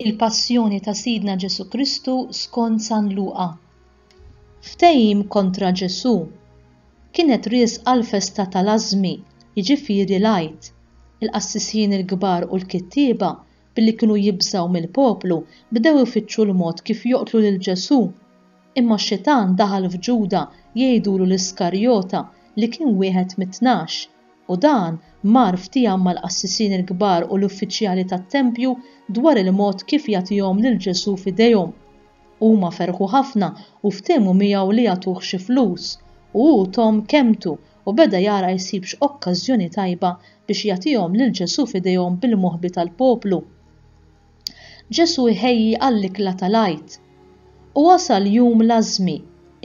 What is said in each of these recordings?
Il-Passjoni ta' Sidna Ġesù Kristu skont San Luqa. Ftehim kontra Ġesù. Kienet riesqa l-festa tal-Ażmi, jiġifieri l-Għid. Il-qassisin il-kbar u l-kittieba, billi kienu jibżgħu mill-poplu, bdew ifittxu l-mod kif joqtlu lil Ġesù. Imma Xitan daħal f'Ġuda jgħidulu l-Iskarjota li kien wieħed mit-tnax. U dan mar ftieham mal-qassisin il-kbar u l-uffiċjali tat-tempju dwar il-mod kif jagħtihom lil Ġesù f'idejhom. Huma ferħu ħafna u ftehmu miegħu li jagħtuh xi flus, u hu thom kelmtu u beda jara jsib x'okkażjoni tajba biex jagħtihom lil Ġesù f'idejhom bil-moħbi tal-poplu. Ġesù jħejji għall-ikla tal-Għid. U wasal jum l-Ażmi,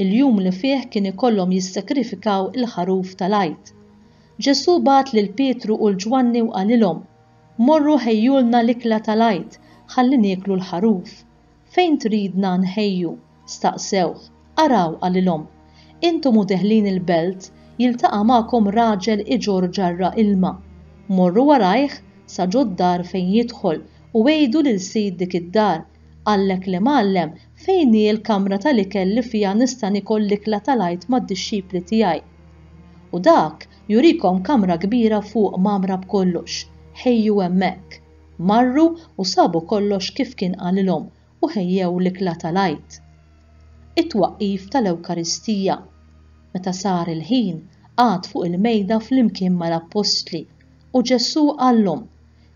il-jum li fih kien ikollhom jissakrifikaw il-ħaruf tal-Għid. Ġesù bagħat lil Pietru u 'l Ġwanni u qalilhom, Morru ħejjulna l-ikla tal-Għid ħalli nieklu l-ħaruf. Fejn tridna nħejju? Staqsewh, Araw, qalilhom, intom u deħlin il-belt jiltaqa' magħkom raġel iġorr ġarra ilma. Morru warajh sa ġo d-dar fejn jidħol u għidu lil sid dik id-dar, 'Qallek l-Imgħallem, fejn hi l-kamra tal-ikel li fiha nista' niekol l-ikla tal-Għid mad-dixxipli tiegħi? U dak jurikom kamra kbira fuq mgħammra b'kollox. Ħejju hemmhekk. Marru u sabu kollox kif kien qalilhom u ħejjew l-ikla tal-Għid. It-twaqqif tal-Ewkaristija. Meta sar il-ħin, qagħad fuq il-mejda flimkien mal-Appostli, u Ġesù qallhom,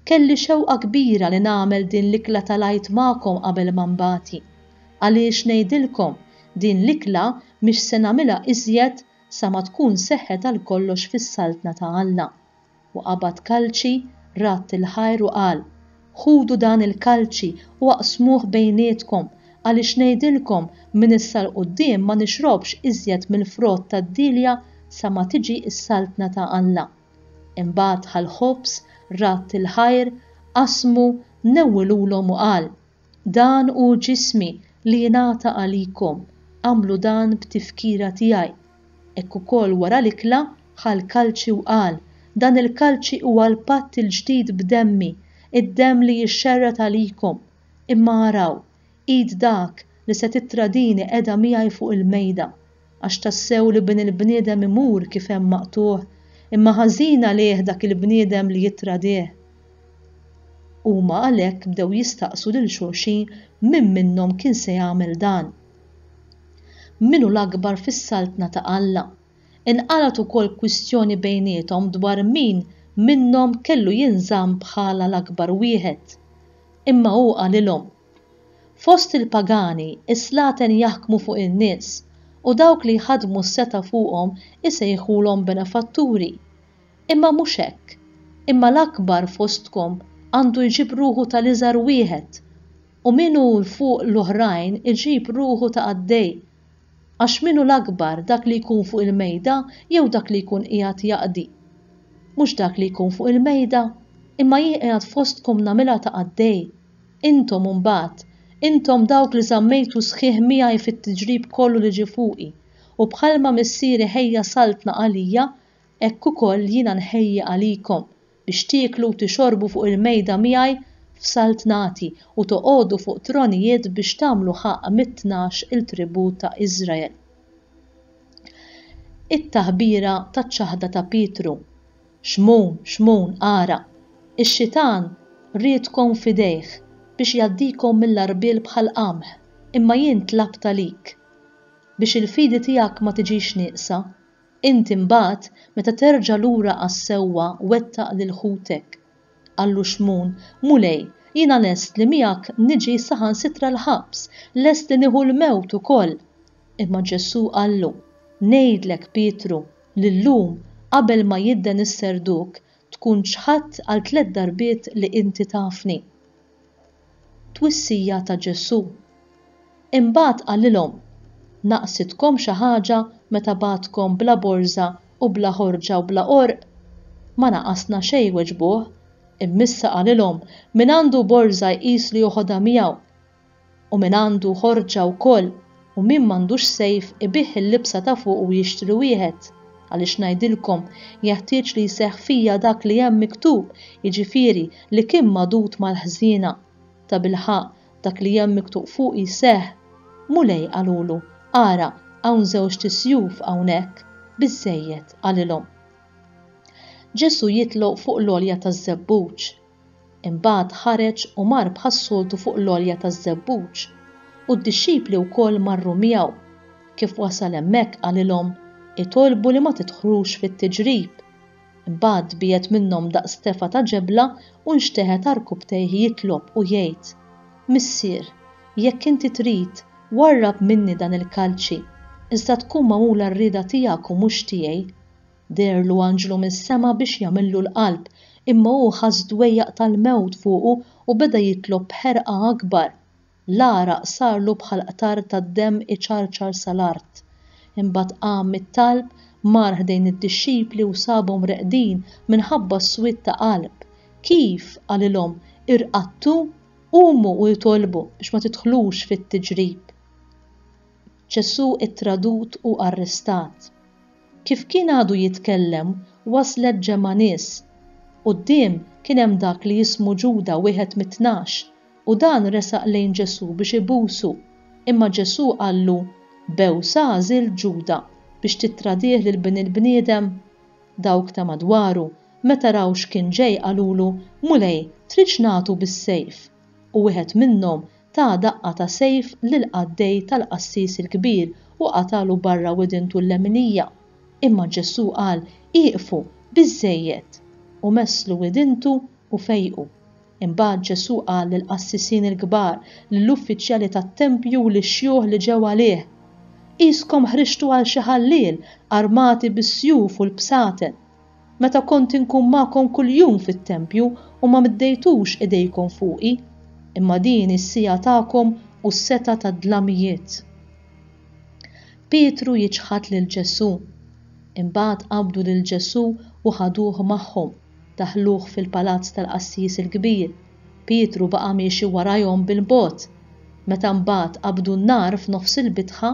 Kelli xewqa kbira li nagħmel din l-ikla tal-Għid magħkom qabel ma nbati, għaliex ngħidilkom, din l-ikla mhix se nagħmilha iżjed sa ma tkun seħħet għalkollox fis-Saltna ta' Alla. U qabad kalċi, radd il-ħajr u qal, Ħudu dan il-kalċi u aqsmuh bejnietkom, għaliex ngħidilkom, minn issa 'l quddiem ma nixrobx iżjed mill-frott tad-dielja sa ma tiġi s-Saltna ta' Alla. Imbagħad ħa l-ħobż, radd il-ħajr, qasmu, newwilulhom u qal, Dan hu ġismi li jingħata għalikom, agħmlu dan b'tifkira tiegħi. Hekk ukoll wara l-ikla, ħa l-kalċi u qal, Dan il-kalċi huwa l-patt il-ġdid b'demmi, id-demm li jixxerred għalikom. Imma araw, id dak li se tittradini qiegħda miegħi fuq il-mejda. Għax tassew l-Ibn il-bniedem imur kif hemm maqtugħ, imma ħażin għalih dak il-bniedem li jittradih. Huma għalhekk bdew jistaqsu lil xulxin min minnhom kien se jagħmel dan. Min hu l-akbar fis-Saltna ta' Alla? Inqalgħet ukoll kwistjoni bejniethom dwar min minnhom kellu jinżamm bħala l-akbar wieħed. Imma hu qalilhom, Fost il-pagani, is-slaten jaħkmu fuq in-nies, u dawk li jħaddmu s-setgħa fuqhom isejħulhom benefatturi. Imma mhux hekk, imma l-akbar fostkom għandu jġib ruħu ta' l-iżgħar wieħed, u min hu 'l fuq l-oħrajn iġib ruħu ta' qaddej. Għax min hu l-akbar, dak li jkun fuq il-mejda jew dak li jkun qiegħed jaqdi? Mhux dak li jkun fuq il-mejda? Imma jien qiegħed fostkom nagħmilha ta' qaddej. Intom imbagħad, intom dawk li żammejtu sħiħ miegħi fit-tiġrib kollu li ġie fuqi, u bħalma Missieri ħejja saltna għalija, hekk ukoll jiena nħejji għalikom, biex tieklu u tixorbu fuq il-mejda miegħi f'saltnati, u toqogħdu fuq tronijiet biex tagħmlu ħaqq mit-tnax il-tribù ta' Iżrael. It-taħbira taċ-ċaħda ta' Pietru. Xmun, xmun, ara! Ix-xitan riedkom f'idejh biex jgħaddikom mill-għarbiel bħal qamħ, imma jien tlabt għalik. Biex il-fidi tiegħek ma tiġix nieqsa, int imbagħad meta terġa' lura għas-sewwa wettaq lil ħutek. Qallu Xmun, Mulej, jiena lest li miegħek niġi saħansitra l-ħabs, lest li nieħu l-mewt ukoll. Imma Ġesù qallu, Ngħidlek, Pietru, li llum, qabel ma jidden is-serduk, tkun ċħadt għal tliet darbiet li inti tafni. Twissija ta' Ġesù. Imbagħad qalilhom, Naqsitkom xi ħaġa meta bagħatkom bla borża u bla ħorġa u bla qorq? Ma naqasna xejn weġbuh. Imm'issa qalilhom, Min għandu borża jqis li joħodha miegħu. u min għandu ħorġha wkoll u min m'għandux sejf ibigħ il-libsa ta' fuq u jixtri wieħed. Għaliex ngħidilkom, jeħtieġ li jseħħ fija dak li hemm miktub, jiġifieri li kien magħdud mal-ħżiena. Tabilħaqq, dak li hemm miktub fuqi seħħ. Mulej qalulu, Ara, hawn żewġt sjuf hawnhekk. Biżżejjed, qalilhom. Ġesù jitloq fuq l-għolja taż-żebbuġ. Imbagħad ħareġ u mar bħas-soltu fuq l-għolja taż-żebbuġ, u d-dixxipli wkoll marru miegħu. Kif wasal hemmhekk qalilhom, Itolbu li ma tidħlux fit-tiġrib. Imbagħad biegħed minnhom daqs tefa' ta' ġebla u nxteħet ta' rkubtejh jitlob u jgħid, Missier, jekk inti trid, warrab minni dan il-kalċi, iżda tkun magħmula r-rieda tiegħek u mhux tiegħi. Deherlu anġlu mis-sema biex jagħmillu l-qalb, imma hu ħass dwejjaq tal-mewt fuqu u beda jitlob b'ħerqa akbar. L-għaraq sarlu bħal qtar tad-demm iċarċar sal-art. Imbagħad qam mit-talb, mar ħdejn id-dixxipli u sabhom reqdin minħabba s-swied ta' qalb. Kif? qalilhom, irqadtu? Qumu u itolbu biex ma tidħlux fit-tiġrib. Ġesù ttradut u arrestat. Kif kien għadu jitkellem, waslet ġemgħa nies. Quddiem kien hemm dak li jismu Ġuda, wieħed mit-Tnax, u dan resaq lejn Ġesù biex ibusu. Imma Ġesù qallu, B'għewsa għażilt Ġuda, biex tittradih lil Bin il-bniedem? Dawk ta' madwaru, meta raw x'kien ġej qalulu, Mulej, tridx nagħtu bis-sejf? u wieħed minnhom ta daqqa ta' sejf lill-qaddej tal-qassis il-kbir u qatagħlu barra widintu l-leminija. Imma Ġesù qal, Ieqfu, biżżejjed! U messlu widintu u fejqu. Imbagħad Ġesù qal lill-qassisin il-kbar, lill-uffiċjali tat-tempju u lix-xjuħ li ġew għalih, Qiskom ħriġtu għal xi ħalliel, armati bis-sjuf u l-bsaten. Meta kont inkun magħkom kuljum fit-tempju u ma meddejtux idejkom fuqi, imma din hi s-siegħa tagħkom u s-setgħa tad-dlamijiet. Pietru jiċħad lil Ġesù. Imbagħad qabdu lil Ġesù u ħaduh magħhom, daħħluh fil-palazz tal-qassis il-kbir. Pietru baqa' miexi warajhom bil-bogħod. Meta mbagħad qabdu n-nar f'nofs il-bitħa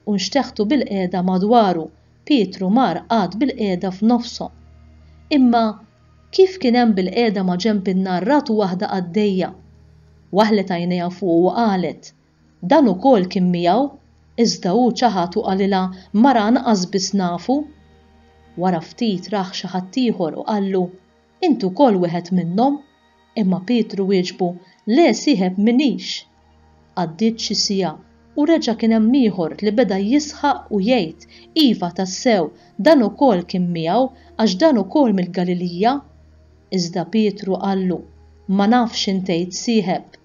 u nxteħtu bilqiegħda madwaru, Pietru mar qagħad bilqiegħda f'nofshom. Imma kif kien hemm bilqiegħda maġenb in-nar ratu waħda qaddejja. Waħlet għajnejha fuqu u qalet, Dan ukoll kien miegħu, iżda hu ċaħad u qalilha, Mara anqas biss nafu. Wara ftit rah xi ħaddieħor u qallu, Inti wkoll wieħed minnhom? Imma Pietru wieġbu, Le, sieħeb, m'iniex! Għaddiet xi siegħa, u reġa' kien hemm ieħor li beda jisħaq u jgħid, Iva, tassew, dan ukoll kien miegħu, għax dan ukoll mill-Galilija! Iżda Pietru qallu, Ma nafx x'int tgħid, sieħeb!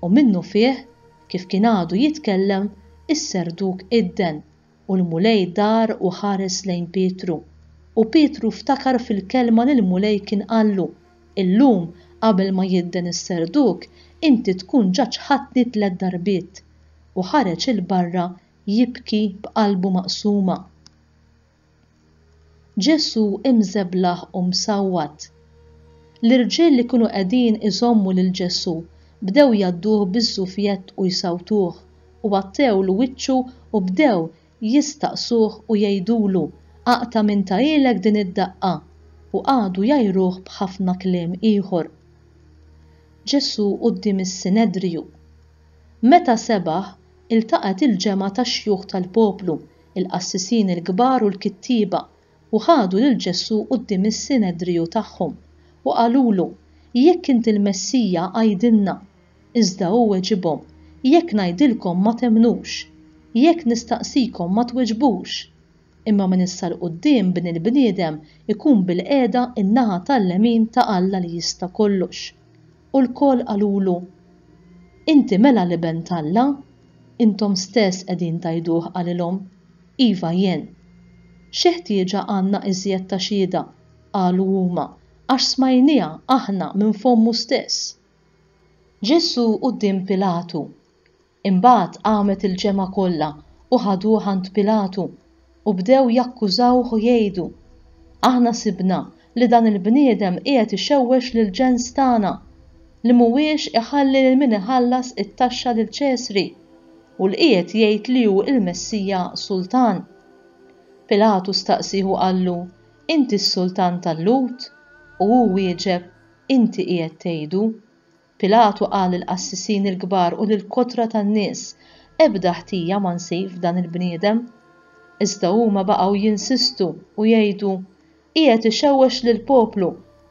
U minnufih, kif kien għadu jitkellem, is-serduk idden. U l-Mulej dar u ħares lejn Pietru. U Pietru ftakar fil-kelma li l-Mulej kien qallu, Illum, qabel ma jidden is-serduk, inti tkun ġa ċħadtni tliet darbiet. U ħareġ 'il barra jibki b'qalbu maqsuma. Ġesù imżeblaħ u msawwat. L-irġiel li kienu qegħdin iżommu lil Ġesù bdew jgħadduh biż-żufjett u jsawtuh, u għattewlu wiċċu u bdew jistaqsuh u jgħidulu, Aqta' minn ta ilek din id-daqqa! u qagħdu jgħajruh b'ħafna kliem ieħor. Ġesù quddiem is-Sinedriju. Meta sebaħ, iltaqgħet il-ġemgħa tax-xjuħ tal-poplu il-qassisin il-kbar u l-kittieba, u ħadu lil Ġesù quddiem is-Sinedriju tagħhom, u qalulu, Jekk int il-Messija, għidilna. Iżda hu weġibhom, Jekk ngħidilkom ma temmnux. Jekk nistaqsikom ma tweġbux. Imma minn issa 'l quddiem Bin il-bniedem ikun bilqiegħda n-naħa tal-lemin ta' Alla li Jista' Kollox. U lkoll qalulu, Inti mela l-Iben t'Alla? Intom stess qegħdin tgħiduh qalilhom, Iva jien. Xi ħtieġa għandna iżjed ta' xhieda, qalu huma, għax smajnieha aħna minn fommu stess. Ġesù quddiem Pilatu. Imbagħad qamet il-ġemgħa kollha u ħaduh għand Pilatu, u bdew jakkużawh u jgħidu, Aħna sibna li dan il-bniedem qiegħed ixewwex lill-ġens tagħna, li m'huwiex iħalli lil min iħallas it-taxxa lil Ċesri, u li qiegħed jgħid li hu l-Messija Sultan. Pilatu staqsih u qallu, Inti s-Sultan tal-Lhud? U hu wieġeb, Inti qiegħed tgħidu. Pilatu qal lill-qassisin il-kbar u lill-kotra tan-nies, Ebda ħtija ma nsib f'dan il-bniedem. Iżda huma baqgħu jinsistu u jgħidu, Qiegħed ixewwex lill-poplu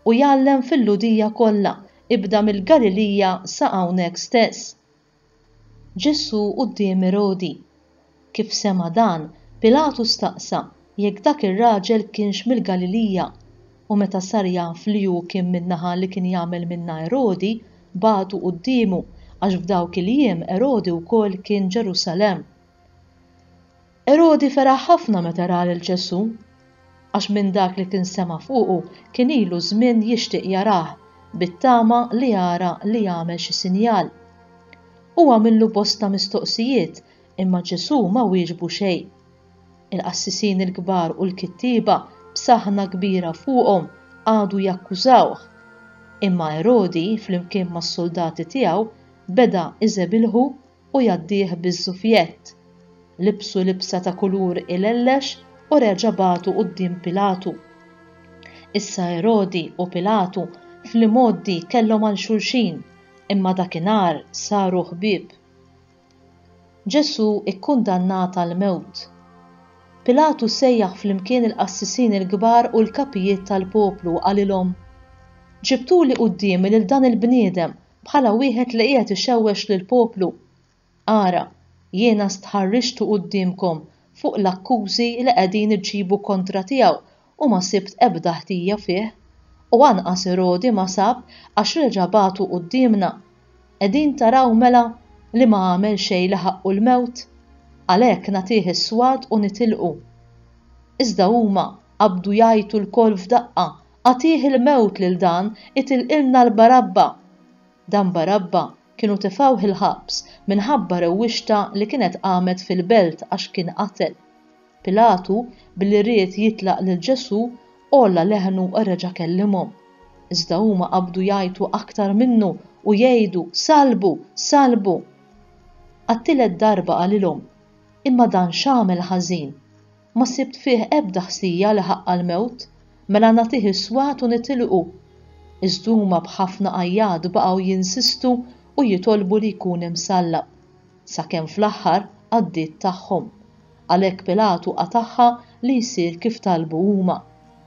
u jgħallem fil-Lhudija kollha, ibda mill-Galilija sa hawnhekk stess. Ġesù quddiem Erodi. Kif sema' dan, Pilatu staqsa jekk dak ir-raġel kienx mill-Galilija, u meta sar jaf li hu kien min-naħa li kien jagħmel minnha Erodi, bagħtu quddiemu, għax f'dawk il-jiem Erodi wkoll kien Ġerusalemm. Erodi feraħ ħafna meta ra lil Ġesù, għax minn dak li kien sema' fuqu kien ilu żmien jixtieq jarah, bit-tama li jara li jagħmel xi sinjal. Hu għamillu bosta mistoqsijiet, imma Ġesù ma wieġbu xejn. Il-qassisin il-kbar u l-kittieba, b'saħħna kbira fuqhom, qagħdu jakkużawh. Imma Erodi, flimkien mas-suldati tiegħu, beda iżebilħu u jgħaddih biż-żufjett. Libsu libsa ta' kulur ilellex u reġa' bagħtu quddiem Pilatu. Issa Erodi u Pilatu fl-imgħoddi kellhom għal xulxin, imma dakinhar saru ħbieb. Ġesù ikkundannat għall-mewt. Pilatu sejjaħ flimkien il-qassisin il-kbar u l-kapijiet tal-poplu u qalilhom, Ġibtuli quddiemi lil dan il-bniedem Bħala wieħed li qiegħed ixewwex lill-poplu. Ara, jiena stħarriġtu quddiemkom fuq l-akkużi li qegħdin iġġibu kontra tiegħu u ma sibt ebda ħtija fih, u anqas Erodi ma sab għax reġa' bagħtu quddiemna. Qegħdin taraw mela li ma għamel xejn li ħaqqu l-mewt? Għalhekk nagħtih is-swat u nitilqu. Iżda huma qabdu jgħajtu lkoll f'daqqa Agħtih il-mewt lil dan itilqilna l-Barabba! Dan Barabba kienu tefgħuh il-ħabs minħabba rewwixta li kienet qamet fil-belt għax kien qatel. Pilatu, billi ried jitlaq lil Ġesù, għolla leħnu u reġa' kellimhom. Iżda huma qabdu jgħajtu aktar minnu u jgħidu, Sallbu! Sallbu! Għat-tielet darba qalilhom, Imma dan x'għamel ħażin? Ma sibt fih ebda ħsija li ħaqqha l-mewt, mela nagħtih is-swat u nitilqu. Iżd huma b'ħafna għajjat baqgħu jinsistu u jitolbu li jkun imsallab, sakemm fl-aħħar għaddiet tagħhom. Għalhekk Pilatu qatagħha li jsir kif talbu huma.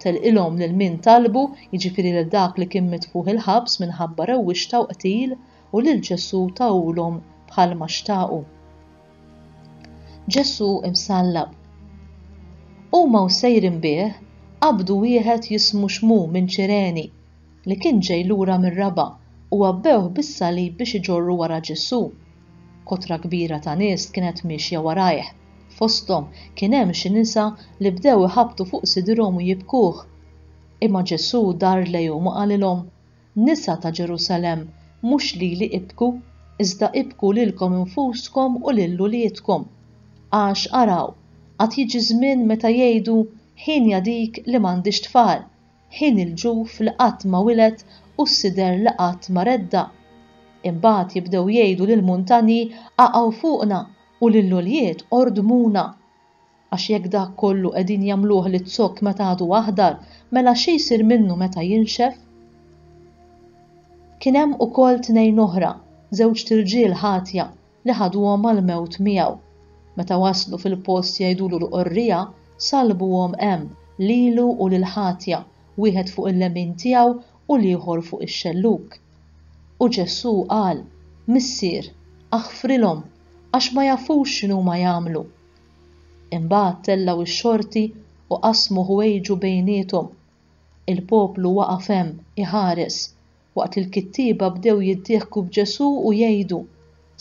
Telqilhom lil min talbu, jiġifieri lil dak li kien mitfugħ il-ħabs minħabba rewwixta u qtil, u lil Ġesù tawhulhom bħalma xtaqu. Ġesù msallab. Huma u sejrin bih qabdu wieħed jismu Xmu minn Ċireni, li kien ġej lura mir-raba' u għabbewh bis-salib biex iġorru wara Ġesù. Kotra kbira ta' nies kienet miexja warajh, fosthom kien hemm xi nisa li bdew iħabbtu fuq sidrhom u jibkuh. Imma Ġesù dar lejhom u qalilhom, Nisa ta' Ġerusalemm, mhux lili ibku, iżda ibku lilkom infuskom u lil uliedkom. Għax, araw, għad jiġi żmien meta jgħidu, 'Hienja dik li m'għandhiex tfal, ħin il-ġuf li qatt ma wiled u s-sider li qatt ma redda'. Imbagħad jibdew jgħidu lill-muntanji, 'Qaqgħu fuqna, u lill-ulied ordmuna. Għax jekk dak kollu qegħdin jagħmluh liz-zokk meta għadu aħdar, mela xi jsir minnu meta jinxef? Kien hemm ukoll tnejn oħra, żewġt irġiel ħatja, li ħaduhom għall-mewt miegħu. Meta waslu fil-post jgħidulu l-qorrija, sallbuhom hemm, lilu u lill-ħatja, wieħed fuq il-lemin tiegħu u l-ieħor fuq ix-xellug. U Ġesù qal, Missier, aħfrilhom, għax ma jafux x'inhuma jagħmlu. Imbagħad tellgħu x-xorti u qasmu ħwejġu bejniethom. Il-poplu waqaf hemm, iħares, waqt li l-kittieba bdew jiddieħku b'Ġesù u jgħidu,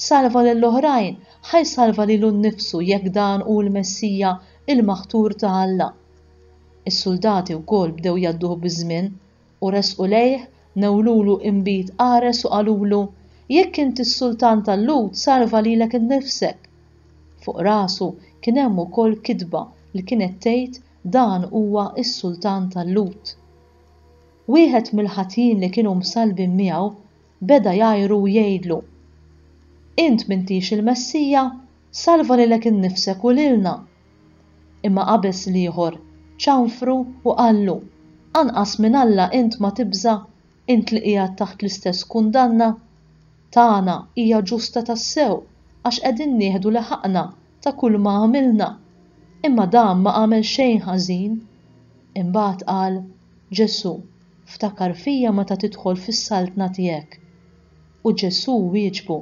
Salva lill-oħrajn, ħa jsalva lilu nnifsu jekk dan hu l-Messija, il-Maħtur ta' Alla. Is-suldati wkoll bdew jgħadduh biż-żmien, U resqu lejh, newwlulu inbid qares u qalulu, Jekk int is-sultan tal-Lhud salva lilek innifsek! Fuq rasu kien hemm ukoll kitba li kienet tgħid dan huwa s-sultan tal-Lhud. Wieħed mill-ħatjin li kienu msallbin miegħu beda jgħajru u jgħidlu, Int m'intix il-Messija? Salva lilek innifsek u lilna! Imma qabeż l-ieħor, ċanfru u qallu, Anqas minn Alla int ma tibża', int li qiegħed taħt l-istess kundanna? Tagħna hija ġusta tassew għax qegħdin nieħdu l-ħaqna ta' kulma għamilna. Imma dan ma għamel xejn ħażin. Imbagħad qal, Ġesù, ftakar fija meta tidħol fis-saltna tiegħek. U Ġesù wieġbu,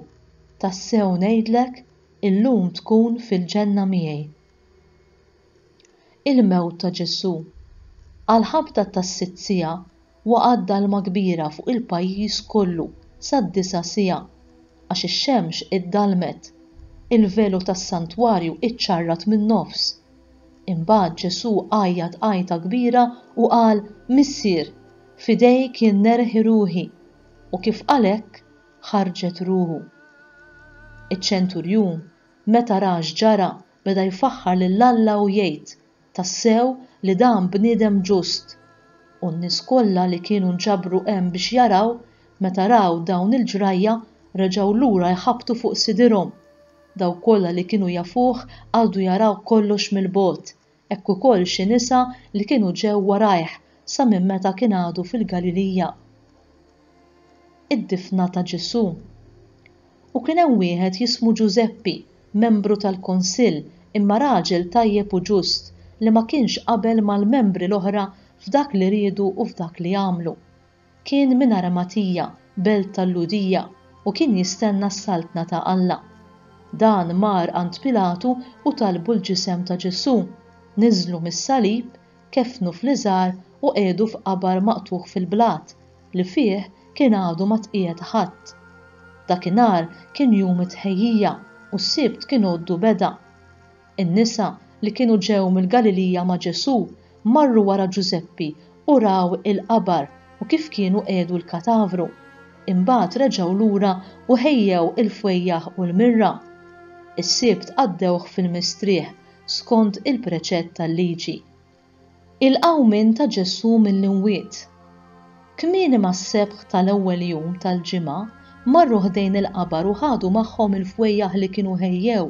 Tassew ngħidlek, Illum tkun fil-ġenna miegħi. Il-mewt ta' Ġesù. Għall-ħabta tas-sitt siegħa waqgħet dalma kbira fuq il-pajjiż kollu sad-disgħa siegħa, għax ix-xemx iddallmet. Il-velu tas-santwarju ċċarrat min-nofs. Imbagħad Ġesù għajjat għajta kbira u qal, Missier, f'idejk jien nerħi ruħi. U kif qal hekk, ħarġet ruħu. Iċ-ċenturjun, meta ra x'ġara, beda jfaħħar lil Alla u jgħid, Tassew li dan bniedem ġust! U n-nies kollha li kienu nġabru hemm biex jaraw, meta raw dawn il-ġrajja, reġgħu lura jħabbtu fuq sidirhom. Dawk kollha li kienu jafuh qagħdu jaraw kollox mill-bogħod, hekk ukoll xi nisa li kienu ġew warajh sa minn meta kien għadu fil-Galilija. Id-difna ta' Ġesù. U kien hemm wieħed jismu Ġużeppi, membru tal-kunsill, imma raġel tajjeb u ġust, li ma kienx qabel mal-membri l-oħra f'dak li riedu u f'dak li għamlu. Kien minn Aramatija, belt tal-Lhudija, u kien jistenna s-Saltna ta' Alla. Dan mar għand Pilatu u talbu l-ġisem ta' Ġesù, niżżlu mis-salib, keffnu fl-iżgħar u qiegħdu f'qabar maqtugħ fil-blat, li fih kien għadu ma tqiegħed ħadd. Dakinhar kien jum it-Tħejjija u s-Sibt kien għoddu beda. In-nisa li kienu ġew mill-Galilija ma' Ġesù marru wara Ġużeppi u raw il-qabar u kif kienu qiegħdu l-katavru. Imbagħad reġgħu lura u ħejjew il-fwejjaħ u l-mirra. Is-Sibt qaddewh fil-mistrieħ skont il-preċett tal-Liġi. Il-qawmien ta' Ġesù mill-imwiet. Kmieni mas-sebħ tal-ewwel jum tal-ġimgħa marru ħdejn il-qabar u ħadu magħhom il-fwejjaħ li kienu ħejjew.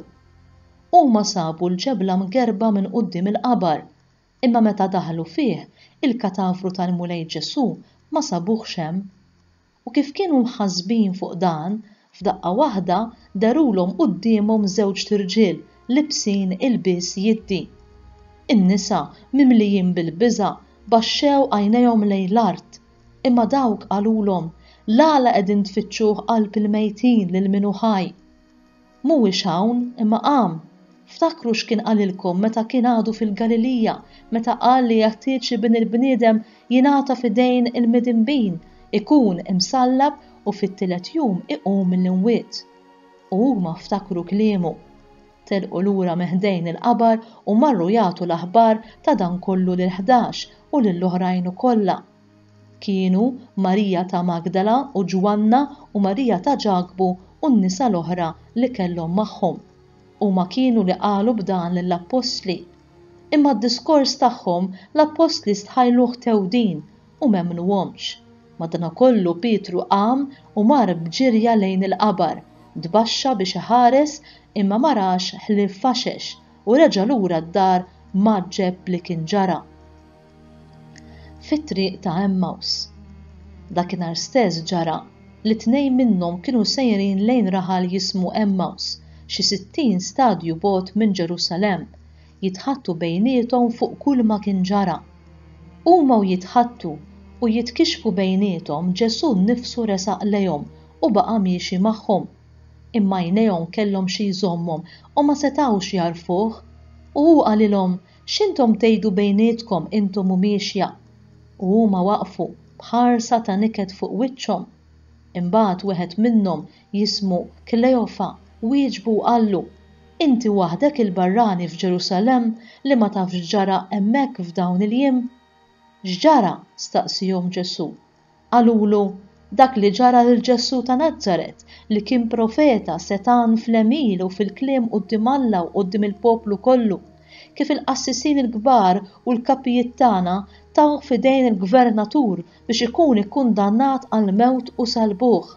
Huma sabu l-ġebla mgerrba minn quddiem il-qabar, imma meta daħlu fih, il-katavru tal-Mulej Ġesù ma sabuhx hemm. U kif kienu mħassbin fuq dan, f'daqqa waħda dehruhom quddiemhom żewġt irġiel libsin ilbies jiddi. In-nisa, mimlijin bil-biża', baxxew għajnejhom lejn l-art. Imma dawk qalulhom, L-għala qegħdin tfittxuh qalb il-mejtin lil min hu ħaj? Mhuwiex hawn, imma qam! Ftakru x'kien qalilkom meta kien għadu fil-Galilija, meta qal li jeħtieġ li Bin il-bniedem jingħata f'idejn il-midinbin, ikun imsallab u fit-tielet jum iqum mill-imwiet. U huma ftakru kliemu. Telqu lura minn ħdejn il-qabar u marru jagħtu l-aħbar ta' dan kollu lill-ħdax u lill-oħrajn ukollha. Kienu Marija ta' Magdala u Ġwanna u Marija ta' Ġakbu u n-nisa l-oħra li kellhom magħhom. Huma kienu li qalu b'dan lill-appostli. Imma d-diskors tagħhom l-appostli stħajluh tewdin u m'emmnuhomx. Madankollu Pietru qam u mar b'ġirja lejn il-qabar, tbaxxa biex iħares imma ma rax ħlief faxex u reġa' lura d-dar mgħaġġeb b'li kien ġara. fit-triq ta' Għemmaws. Dakinhar stess ġara li tnejn minnhom kienu sejrin lejn raħal jismu Għemmaws, xi sittin stadju bogħod minn Ġerusalemm, jitħaddtu bejniethom fuq kulma kien ġara. Huma u jitħaddtu u jitkixxfu bejniethom Ġesù nnifsu resaq lejhom u baqa' miexi magħhom. Imma għajnejhom kellhom xi jżommhom u ma setgħux jagħrfuh. U hu qalilhom, X'intom tgħidu bejnietkom intom u miexja? U huma waqfu b'ħarsa ta' niket fuq wiċċhom. Imbagħad wieħed minnhom jismu Kleofa wieġbu u qallu, Inti waħdek il-barrani f'Ġerusalemm li ma tafx x'ġara hemmhekk f'dawn il-jiem? X'ġara? staqsiehom Ġesù. Qalulu, Dak li ġara lil Ġesù ta' Nazaret, li kien profeta, setgħan fl-għemil u fil-kliem quddiem Alla u quddiem il-poplu kollu, kif il-qassisin il-kbar u l-kapijiet tagħna tawh f'idejn il-gvernatur biex ikun ikkundannat għall-mewt u salbuh.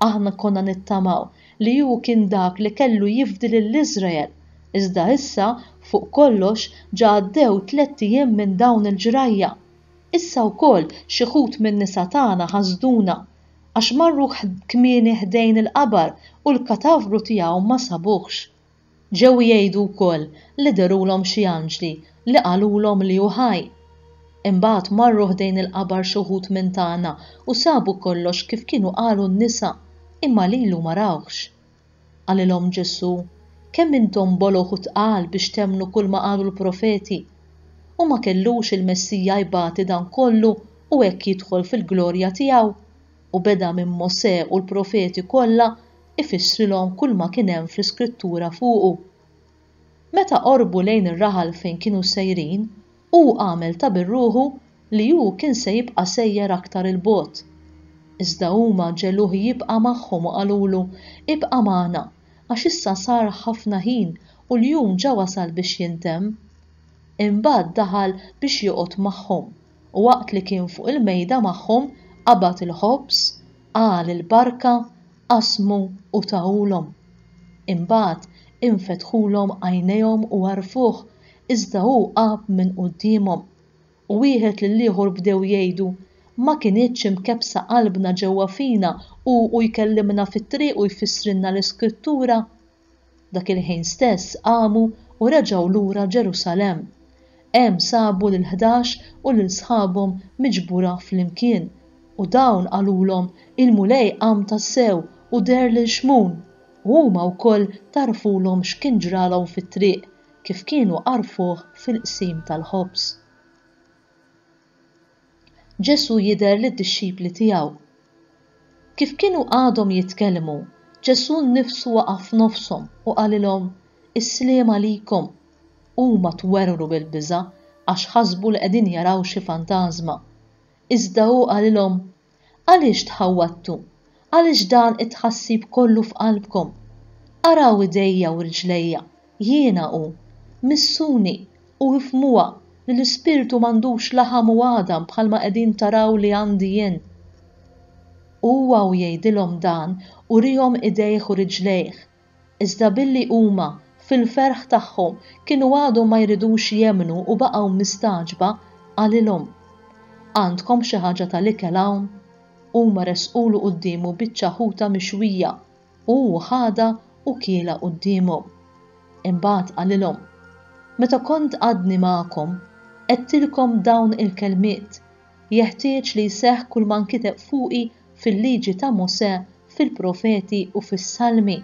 Aħna konna nittamaw li hu kien dak li kellu jifdi lil Iżrael, iżda issa, fuq kollox, ġa għaddew tlett ijiem minn dawn il-ġrajja. Issa wkoll xi wħud min-nisa tagħna ħasduna għax marru kmieni ħdejn il-qabar u l-katavru tiegħu ma sabuhx. Ġew jgħidu wkoll li dherulhom xi anġli li qalulhom li hu ħaj. Imbagħad marru ħdejn il-qabar xi wħud minn tagħna u sabu kollox kif kienu qalu n-nisa, imma lilu ma rawhx. Qalilhom Ġesù, Kemm intom bologħ u tqal biex temmnu kulma qalu l-profeti! U ma kellux il-Messija jbati dan kollu u hekk jidħol fil-glorja tiegħu? U beda minn Mosè u l-profeti kollha ifissrilhom kulma kien hemm fl-Iskrittura fuqu. Meta qorbu lejn ir-raħal fejn kienu sejrin, Hu għamel ta' birruħu li hu kien se jibqa' sejjer aktar 'il bogħod. Iżda huma ġegħluh jibqa' magħhom u qalulu, Ibqa' magħna, għax issa sar ħafna ħin u l-jum ġa wasal biex jintemm. Imbagħad daħal biex joqgħod magħhom, u waqt li kien fuq il-mejda magħhom, qabad il-ħobż, qal il-barka, Qasmu u tahulhom. Imbagħad infetħulhom għajnejhom u għarfuh, iżda hu għab minn quddiemhom. U wieħed lill-ieħor bdew jgħidu, Ma kinitx imkebbsa qalbna ġewwa fina hu u jkellimna fit-triq u jfissrilna l-Iskrittura? Dak il-ħin stess qamu u reġgħu lura Ġerusalemm. Hemm sabu lill-ħdax u lil sħabhom miġbura flimkien, u dawn qalulhom, Il-Mulej qam tassew u deher lil Xmun! U huma wkoll tagħrfulhom x'kien ġralhom fit-triq, kif kienu għarfuh fil-qsim tal-ħobż. Ġesù jidher lid-dixxipli tiegħu. Kif kienu għadhom jitkellmu, Ġesù nnifsu waqa' f'nofshom u qalilhom, Is-sliem għalikom! Huma twerwru bil-biża' għax ħasbu li qegħdin jaraw xi fantażma. Iżda hu qalilhom, Għaliex tħawwadtu? Għaliex dan it-tħassib kollu f'qalbkom? Araw idejja u rġlejja, jiena hu. Missuni, u ifhmuha li l-ispirtu m'għandux laħam u għadam bħalma qegħdin taraw li għandi jien. Huwa u jgħidilhom dan, uriehom idejh u riġlejh, Iżda billi huma, fil-ferħ tagħhom, kienu għadhom ma jridux jemmnu u baqgħu mistagħġba, qalilhom, Għandkom xi ħaġa tal-ikel hawn? Huma ressqulu quddiemu biċċa ħuta mixwija, u hu ħadha u kielha quddiemhom. Imbagħad qalilhom, Meta kont għadni magħkom, għedtilkom dawn il-kelmiet, Jeħtieġ li jseħħ kull ma nkiteb fuqi fil-Liġi ta' Mosè, fil-Profeti u fis-Salmi.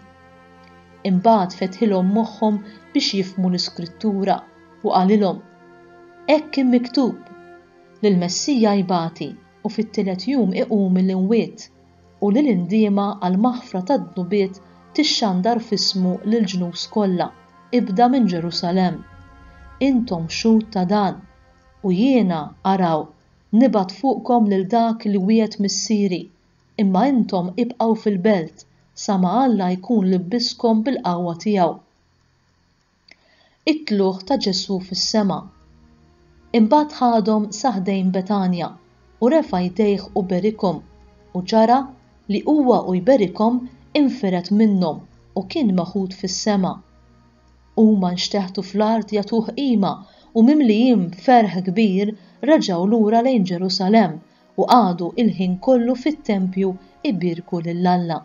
Imbagħad fetħilhom moħħhom biex jifhmu l-Iskrittura, u qalilhom, Hekk kien miktub, li l-Messija jbati u fit-tielet jum iqum mill-imwiet, u li l-indiema għall-maħfra tad-dnubiet tixxandar f'ismu lill-ġnus kollha, ibda minn Ġerusalemm. Intom xhud ta' dan. U jiena, araw, nibgħat fuqkom lil dak li wiegħed Missieri, imma intom ibqgħu fil-belt sa ma Alla jkun libbiskom bil-qawwa tiegħu. It-tlugħ ta' Ġesù fis-sema. Imbagħad ħadhom sa ħdejn Betanja, u refa' jdejh u berikhom, u ġara li huwa u jberikhom infired minnhom u kien meħud fis-sema. Huma nxteħtu fl-art jagħtuh qima u mimlijin ferħ kbir reġgħu lura lejn Ġerusalemm u qagħdu l-ħin kollu fit-tempju jbierku lil Alla.